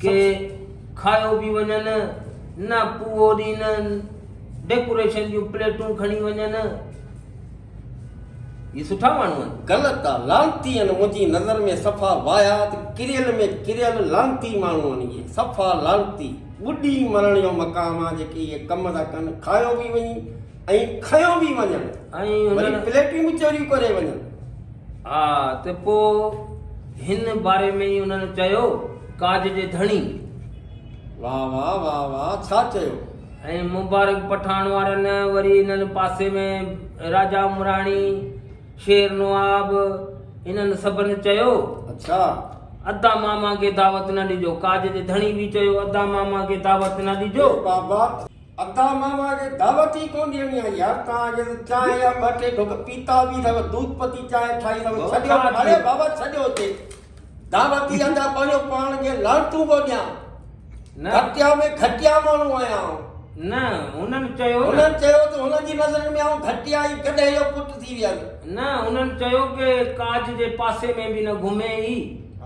کي کايو به وڃن نه پوئو ڏينن ڊيڪوريشن جون پليٽون کڻي وڃن هي سٺا ماڻهو آهن غلط آ لانتي آهن منهنجي نظر ۾ صفا واهيات ڪريل ۾ ڪريل لانتي ماڻهو آهن اهي صفا لانتي ٻڏي مرڻ جو مقام آ جيڪي اهي ڪم ٿا ڪن کايو به وڃي ۽ کنيو به وڃن ۽ وري پليٽون به چوريون ڪري وڃن. ها ته پوء هن باري ۾ ئي انهن چيو، ڪاڄ جي ڌڻي. واء واء واء واء ڇا چيو. ۽ مبارڪ پٺاڻ وارن وري انهن پاسي ۾ راجا عمراڻي، شير نواب انهن سڀن چيو. اڇا. ادا ماما کي دعوت نه ڏجو. ڪاڄ جي ڌڻي به چيو، ادا ماما کي دعوت نه ڏجو. اي بابا! ادا ماما جي دعوت ئي ڪون ڏيڻي آهي يار توهان جي هن چانهه جا ٻه ٽي ڍڪ پيتا به اٿئو دود پتي چانهه ٺاهي اٿئو ڇڏيو اڙي بابا ڇڏيو اتي دعوت ئي ادا پنهنجو پاڻ کي لعنتون پيو ڏيان گهٽيا ۾ گهٽيا ماڻهو آهيان آئون نه هنن چيو هنن چيو ته هنن جي نظرن ۾ آئون گهٽيا ئي گڏهه جو پٽ ٿي ويس نه هنن چيو ڪي ڪاڄ جي پاسي ۾ به نه گهمي ئي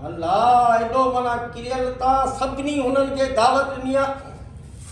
الله ايڏو معنيٰ ڪريل تان سڀني هنن کي دعوت ڏني آهي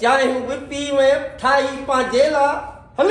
چانهيون به پي ويم ٺاهي پنهنجي لاء هن.